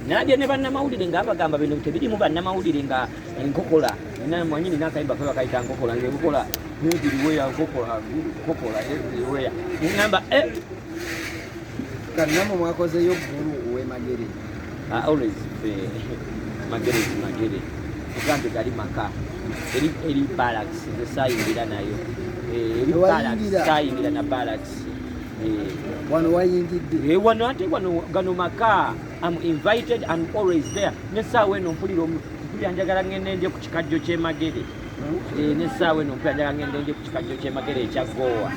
nabya ne bannamawulire nga abagamba bino tebirimu bannamawulire nga enkokola mwanyini nakayimba fe bakayita nkokola ngenkola nziriweya nkokola nkokola nziriweya ngamba eh. kannamu mwakozeyo ggulu owemagere ah, always fe magere magere tugambe gali maka eri balaks nze sayingira nayo eh, eri balaks sayingira na balaks wano wayingidde eh, wano ate wano gano maka am invited and always there nesaawa eno mpulira mpulira njagala ngende ndye ku kikajjo kyemagere eh, nesaawa eno mpulira njagala ngende ndye ku kikajjo kyemagere ekya goowa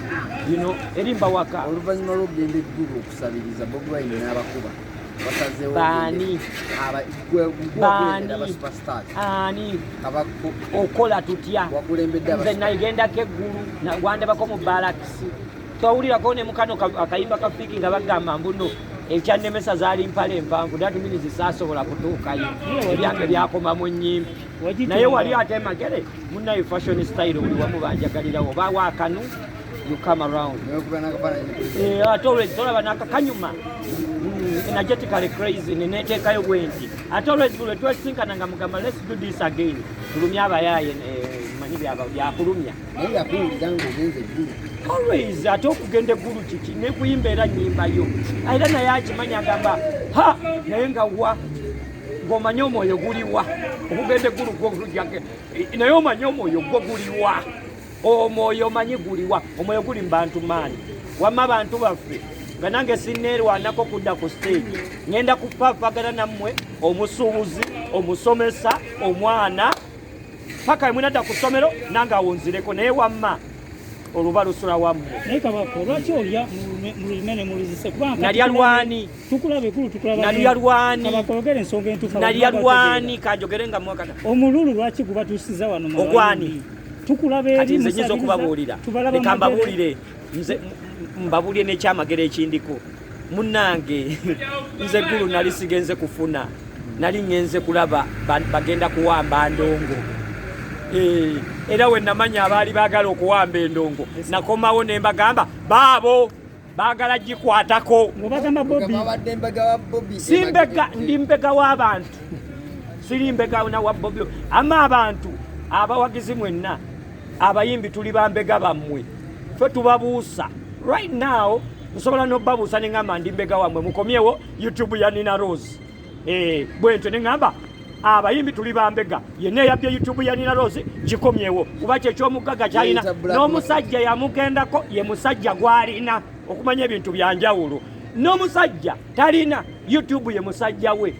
yino erimba waka oluvannyuma lwokugenda eggulu okusabiriza bobi wine n'abakuba baani ani okola tutya nze nagendako eggulu wandabako mu balakisi twawulirako ne mukano akayimba ka fiki nga bagamba mbuno ekyannemesa zaali mpala empanvu that means saasobola kutuukayo ebyange byakoma mu nyimpi naye wali ate magere munaye fashion style buli wamu banjagalirawo oba wakanu you come around eh, ate olwezi tolaba nakakanyuma mm, energetically crazy neneteekayo bwenti ate olwezi bulwe twesinkana nga mugamba let's do this again tulumya abayaye eh, manyi byakulumya naye yakuwulira ng'ogenze eggulu always ate okugenda eggulu kiki nekuyimba era nyimbayo era naye akimanyi agamba ha naye nga wa ng'omanye omwoyo guliwa okugenda eggulu gwogujake naye omanye omwoyo gwo guliwa omwoyo omanyi guliwa omwoyo guli mu bantu maani wamma bantu baffe nga nange sineerwanako kudda ku siteegi ngenda kupapagana nammwe omusuubuzi omusomesa omwana paka emwe nadda ku ssomero nange awunzireko naye wamma oluba lusula wamu naye kabako lwaki olya mulimene mulizise kubanalya lwani tukulabe kulu tukulaba nalya lwani kabako ogere ensonga entufu nalya lwani kanjogere nga mwakata omululu lwaki guba tusiza wano mu ogwani tukulabe eri musabiza tubalaba mbabuulire nze mbabuulire nekyamagero ekindiko munange nze gulu nali sigenze kufuna nali ngenze kulaba bagenda kuwamba ndongo eh, era wenamanya abaali bagala okuwamba endongo nakomawo nembagamba baabo bagala gikwatako simbega ndi mbega w'abantu siri mbega na wa bobi ama abantu abawagizi mwenna abayimbi tuli bambega bammwe fe tubabuusa right now nsobola nobabuusa neŋamba ndi mbega wamwe mukomyewo youtube ya nina rose eh, bwentyo neŋamba abayimbi tuli bambega yenna eyabye youtube ya nina rose gikomyewo kuba kyekyomuggaga kyalina n'omusajja yamugendako ye musajja gwalina okumanya ebintu byanjawulo n'omusajja talina youtube ye musajja we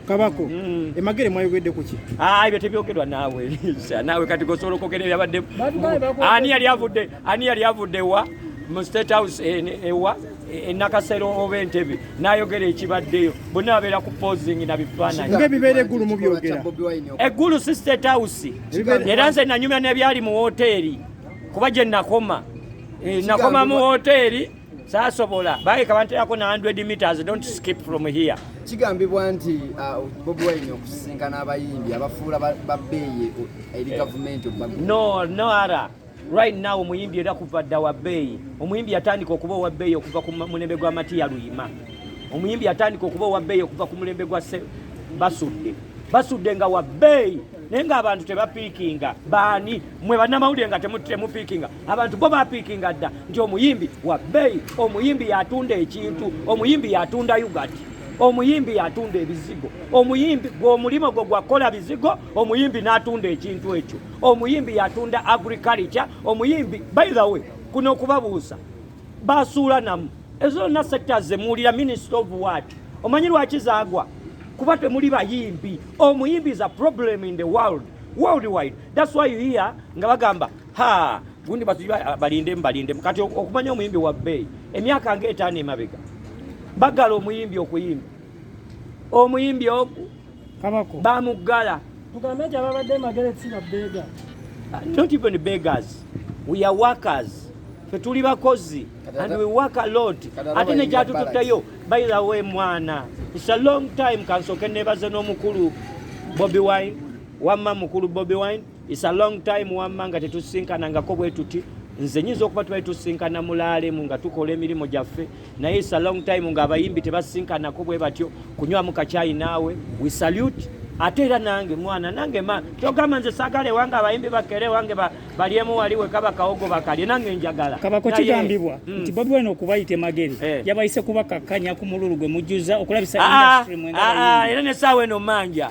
kabako mm. emagere mwayogedde kuki ah, ebyo tebyogerwa naawe naawe kati gosobola okwogera ebyabadde ani yali avudde ani yali avudde wa mu state house eh, eh, ewa eh, enakasero oba entebe nayogera ekibaddeyo bonna babeera ku posing na bifaananyibibeera eggulu mubyogera eggulu si state house era nze nanyumya nebyali mu woteeri kuba gye nakoma nakoma mu woteeri sasobola bageka banterako na 100 meters don't skip from here kigambibwa nti uh, bobi wine okusisinkana abayimbi abafuula babbeeyi eri gavumenti no no ara Right now omuyimbi era kuva dda wa bbeeyi. Omuyimbi yatandika okuba owa bbeeyi okuva ku mulembe gwa Matiya Luyima. Omuyimbi yatandika okuba owa bbeeyi okuva ku mulembe gwa Basudde. Basudde nga wa bbeeyi naye ng'abantu tebapiikinga baani mwe bannamawulire nga temupiikinga abantu bo bapiikinga dda nti omuyimbi wa bbeeyi omuyimbi yatunda ekintu omuyimbi yatunda ugati omuyimbi yatunda ebizigo omuyimbi gwe omulimu gwe gwakukola bizigo omuyimbi n'atunda ekintu ekyo omuyimbi yatunda agriculture omuyimbi by the way kuno okubabuuza basuula namu ezo zonna sekita zemuwulira minister of word omanyi lwaki zagwa kuba temuli bayimbi omuyimbi is a problem in the world worldwide that's why you hear nga bagamba ha gundi batuji balinde mbalinde kati okumanya omuyimbi wa bay emyaka nga etaano emabega bagala omuyimbi okuyimba omuyimbi oku kabako bamuggala tugambe nti ababadde magere si babbeega uh, not even beggars we are workers fe tuli bakozi and we work a lot ate ne gyatututtayo by the way mwana it's a long time kansoke nebaze n'omukulu bobi wine wamma mukulu bobi wine It's a long time wamma nga tetusinkanangako bwetuti nze nyinza okuba tubali tusinkana mulaalemu nga tukola emirimu gyaffe naye it's a long time nga abayimbi tebasinkanako bwe batyo kunywamu kakyayi naawe we salute ate era nange mwana nange ma kyogamba nze sagala ewange abayimbi bakere ewange balyemu wali wekaba kawogo bakalye nange njagala kabako kigambibwa mm. nti bobi wine okubayita emageri eh. yabayise kubakakkanya ku mululu gwe mujjuza okulabisa ah, ah, ah, era nesaawa eno manja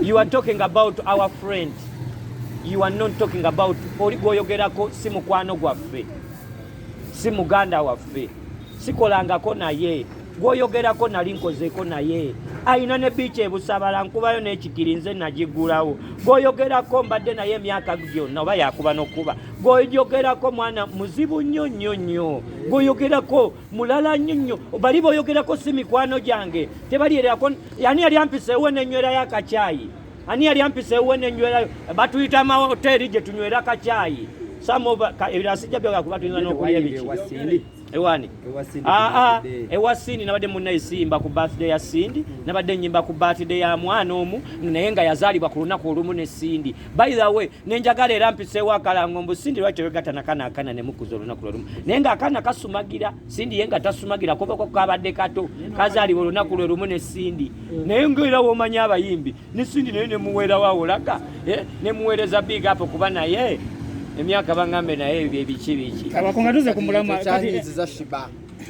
you are talking about our friend you are not talking about oli gwoyogerako si mukwano gwaffe si muganda waffe sikolangako naye gwoyogerako nali nkozeeko naye alina ne biiki ebusabala nkubayo n'ekikiri nze nagigulawo gwoyogerako mbadde naye emyaka gyonna oba yakuba nokuba gwoyogerako mwana muzibu nnyo nnyo nnyo gwoyogerako mulala nnyo nnyo bali boyogerako si mikwano gyange tebalyerako ani yali ampisa ewe nenywerayo akakyayi ani yali ampisa ewe nenywerayo batuyita amahoteeri gye tunywera akakyayi ebirasijja byogakuba tuyinza nokulya biki ewani aa ewa sindi nabadde munaye simba ku birthday ya sindi nabadde nyimba ku birthday ya mwana omu naye nga yazaalibwa ku lunaku olumu ne sindi by the way nenjagala era mpiseewo akalango mbu sindi lwaki wegata nakana akana nemukuza olunaku lwelumu naye nga akana kasumagira sindi ye nga tasumagira kubako kabadde kato kazaliwa olunaku lwelumu ne sindi naye ngaera womanya abayimbi ne sindi naye nemuweerawawolaga eh, nemuweereza big apo kuba naye emyaka bangambe naye ebyo ebiki biki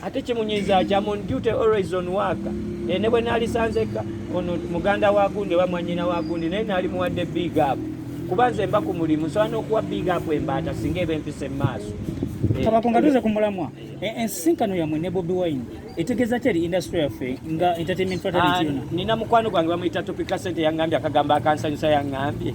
ate kimunyiza ki am on duty always on work naye ne bwe naalisanzekka ono muganda wa gundi oba mwanyina wa gundi naye naali muwadde big up kuba nze mba ku mulimu nsobola n'okuwa big up embaata singa eba empisa emu maaso eh, kabako nga tuze ku mulamwa eh. eh, ensisinkano yammwe ne bobi wine etegeeza ki eri industry yaffe nga entertainment fatality ah, yona nina mukwano gwange bamuyita topika sente yangambye akagambo akansanyusa yangambye